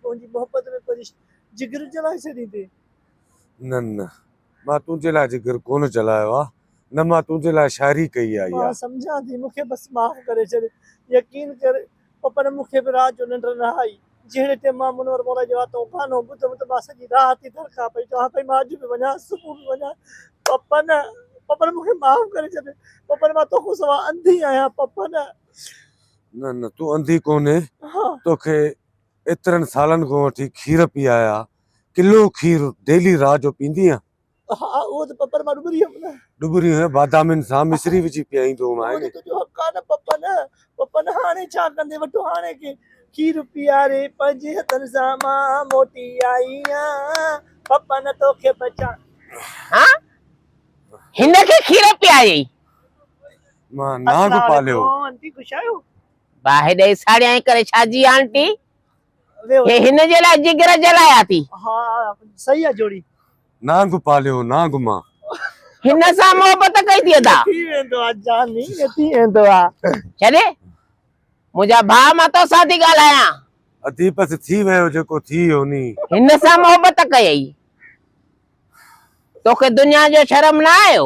تنهنجي محبت ۾ پرشت جگر جلائي ڇڏيندي. نه نه مان تنهنجي لاء جگر ڪونه جلايو آ نه مان تنهنجي لاء شاعري ڪئي آ. مان سمجهان ٿي مون کي بس معاف ڪري ڇڏ. يقين ڪر پ پ نه مون کي به رات جو ننڊ نه آئي. جهڙي ٽئم مان منور مولائي جي واتون گانو ٻڌم ته مان سڄي رات ئي درڪا پئي چوان پئي مان اڄ به وڃان صبح به وڃان پ پ نه پ پ نه مون کي معاف ڪري ڇڏ پ پ نه مان توکون سوا انڌي آهيان پ پ نه. نه نه تون انڌي ڪونهي توکي ايترن سالن کان وٺي کير پي آيا ڪلو کير ڊيلي رات جو پيندي آهين؟ ها اهو ته پپر مان ڏٻري هيم نه. ڏٻري هيم بادامين سان مصري وجهي پيائيندو هوم آهي ني. اهو ته تنهنجو حق آهي نه پپن. پپن هاڻي ڇا ڪندين وٺو هاڻي کي. کير پياري پنهنجي هٿن سان مان موٽي آئي آهيان پپن توکي بچا. ها هن کي کير پيائي. مان نانگ پاليو. اچو آنٽي گسايو باهه ڏئي ساڙيائين ڪري ڇا جي آنٽي هي هن جي لاء جگر جلايا ٿي. ها صحيح آ جوڙي. نانگ پاليو نانگ مان. هن سان محبت ڪئي ٿي ادا. ٿي ويندو آ جاني ٿي ويندو آ. ڇڏي منهنجا ڀاء مان توسان ٿي ڳالهايان. ادي بس ٿي ويو جيڪو ٿي ويو ني. هن سان محبت ڪيئي توکي دنيا جو شرم نه آيو.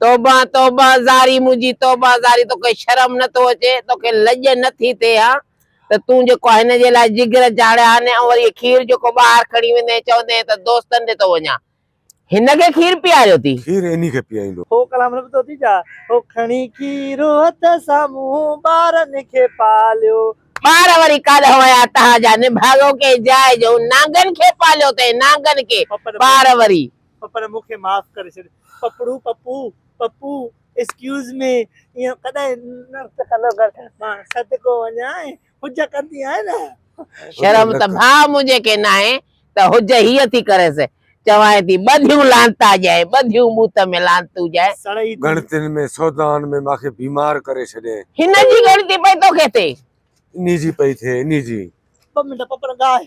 توبه توبه زاري منهنجي توبه زاري توکي شرم نه ٿو اچي توکي لڄ نه ٿي ٿئي ها ته تون جيڪو هن جي لاء جگر چاڙهيا آهن ۽ وري هي کير جيڪو ٻاهر کڻي ويندين ۽ چوندين ته دوستن ڏي ٿو وڃان هن کي کير پياريو ٿي. کير انهي کي پياريندو. هو ڪلام رب توتي جا. هو کڻي کير هٿ سان مون ٻارن کي پاليو. ٻار وري ڪاڏهن ويا تهان جا نڀاڳو ڪنهن جاء جو نانگن کي پاليو تنهن نانگن کي ٻار وري. پر مون کي معاف ڪري ڇڏ پپڙو پپو پپو ايڪسڪيوز مي ايئن ڪڏهن نه ڪندو ڪر مان صدقو وڃان حج ڪندي آهي نه شرم ته ڀاء منهنجي کي ناهي ته حج هيء ٿي ڪريس چوانء ٿي ٻڌيون لعنتا ڄائين ٻڌيون بوت ۾ لعنتون ڄائين. سڙئي ٿي. ڳڻتين ۾ سودائن ۾ مان کي بيمار ڪري ڇڏين. هن جي ڳڻتي پئي توکي ٿئي. انهي جي پئي ٿئي انهي جي. ٻه منٽ پپڙ ڳاهه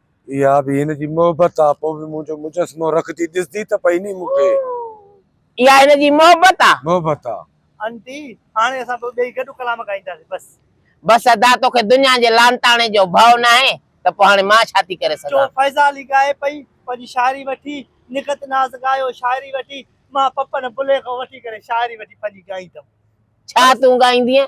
اها به هن جي محبت آ. پوء به منهنجو مجسمو رکندي ڏسندي ته پئي ني مون کي. اها هن جي محبت آ. محبت آ. آنٽي هاڻي اسان ٻه ٻئي گڏ ڪلام ڳائينداسين بس. بس ادا توکي دنيا جي لانتاڻي جو ڀئو ناهي ته پوء هاڻي مان ڇا ٿي ڪري سگهان. چو فيضا علي ڳائي پئي پنهنجي شاعري وٺي نگهت ناز ڳايو شاعري وٺي مان پپن بليغ وٺي ڪري شاعري وٺي پنهنجي ڳائيندم. ڇا تون ڳائيندينء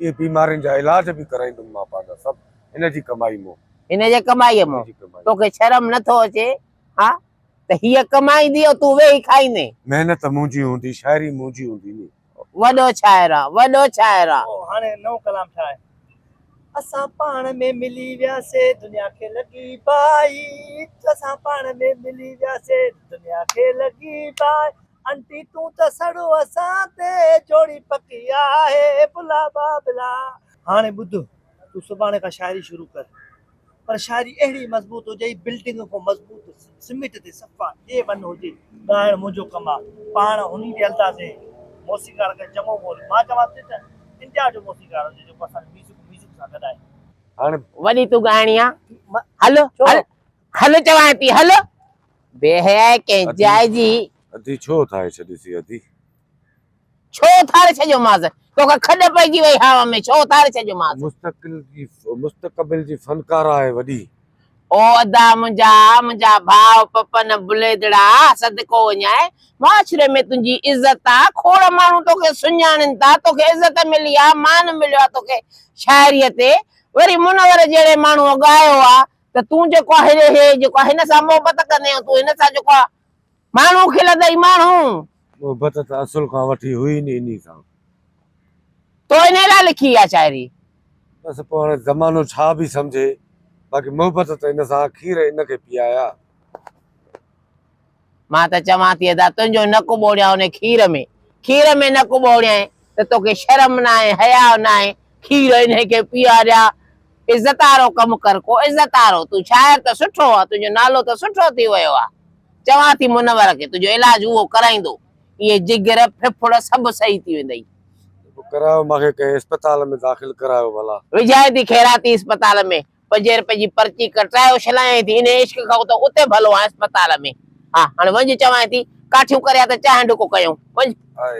اهي بيمارين جا علاج به ڪرائيندم مان پنهنجا سڀ هن جي ڪمائي مون. هن جي ڪمائيء مون. توکي شرم نه ٿو اچي ها ته هيء ڪمائيندي ۽ تون ويهي کائيندين. محنت منهنجي هوندي، شاعري منهنجي هوندي ني. وڏو شاعر آن، وڏو شاعر آن. پوء هاڻي نئون ڪلام ڇا آهي؟ اسان پاڻ ۾ ملي وياسي دنيا کي لڳي بائي. اسان پاڻ ۾ ملي وياسي دنيا کي لڳي بائي. آنٽي تون ته سڙو اسان تي جوڙي پڪي آهي بلا بابلا. هاڻي ٻڌ تون سڀاڻي کان شاعري شروع ڪر پر شاعري اهڙي مضبوط هجئي بلڊنگ کان مضبوط سميٽ تي صفا اي ون هجي. ڳائڻ منهنجو ڪم آ پاڻ هني جي اندازي موسيقار کي چڱو ڳول مان چوان ٿي ته انڊيا جو موسيقار هجي جيڪو اسان جي ميوزڪ ميوزڪ سان گڏائي. هاڻي وڏي تون ڳائڻي آ هل هل. هل چوانء ٿي هل. بي حيائي ڪنهن جاء جي. اڌي ڇو اٿاري ڇڏيسي اڌي. ڇو اٿاري ڇڏيومانس. توکان کڏ پئجي وئي هاء ۾ ڇو اٿاري ڇڏيومانس. مستقبل جي فنڪاره آهي وڏي. او ادا منهنجا منهنجا ڀاء پپن بليدڙا صدقو وڃائي معاشري ۾ تنهنجي عزت آ کوڙ ماڻهو توکي سڃاڻين ٿا توکي عزت ملي آ مان مليو آ توکي شاعري تي وري منور جهڙي ماڻهوء ڳايو آ ته تون جيڪو آهي ري هي جيڪو هن سان محبت ڪندين تون هن سان جيڪو آهي ماڻهو کل ته اي ماڻهو. محبت ته اصل کان وٺي هئي ئي نه انهي سان. تو انهي لاء لکي اها شاعري. بس پوء هاڻي زمانو ڇا به سمجهي باقي محبت ته هن سان اکير هن کي پيايا. مان ته چوان ٿي ادا تنهنجو نڪ ٻوڙيان ان کير ۾، کير ۾ نڪ ٻوڙيائين ته توکي شرم ناهي، حياء ناهي، کير انهي کي پيئاريا، عزت وارو ڪم ڪر، ڪو عزت وارو، تون شاعر ته سٺو آن، تنهنجو نالو ته سٺو ٿي ويو آ، چوان ٿي منور کي تنهنجو علاج اهو ڪرائيندو، اهي جگر، ڦڦڙ سڀ صحيح ٿي ويندئي. ته پوء ڪرايو مان کي ڪنهن اسپتال ۾ داخل ڪرايو ڀلا. وجهائين ٿي خيراتي اسپتال ۾، پجيرپي جي پرچي ڪٽرائي اڇلايائين ٿي، انهيء عشق کان ته اتي ڀلو آهيان اسپتال ۾. ها، هاڻ وڃ چوانء ٿي، ڪاٺيون ڪريا ته چانهه ڍڪ ڪيون. وڃ! آء.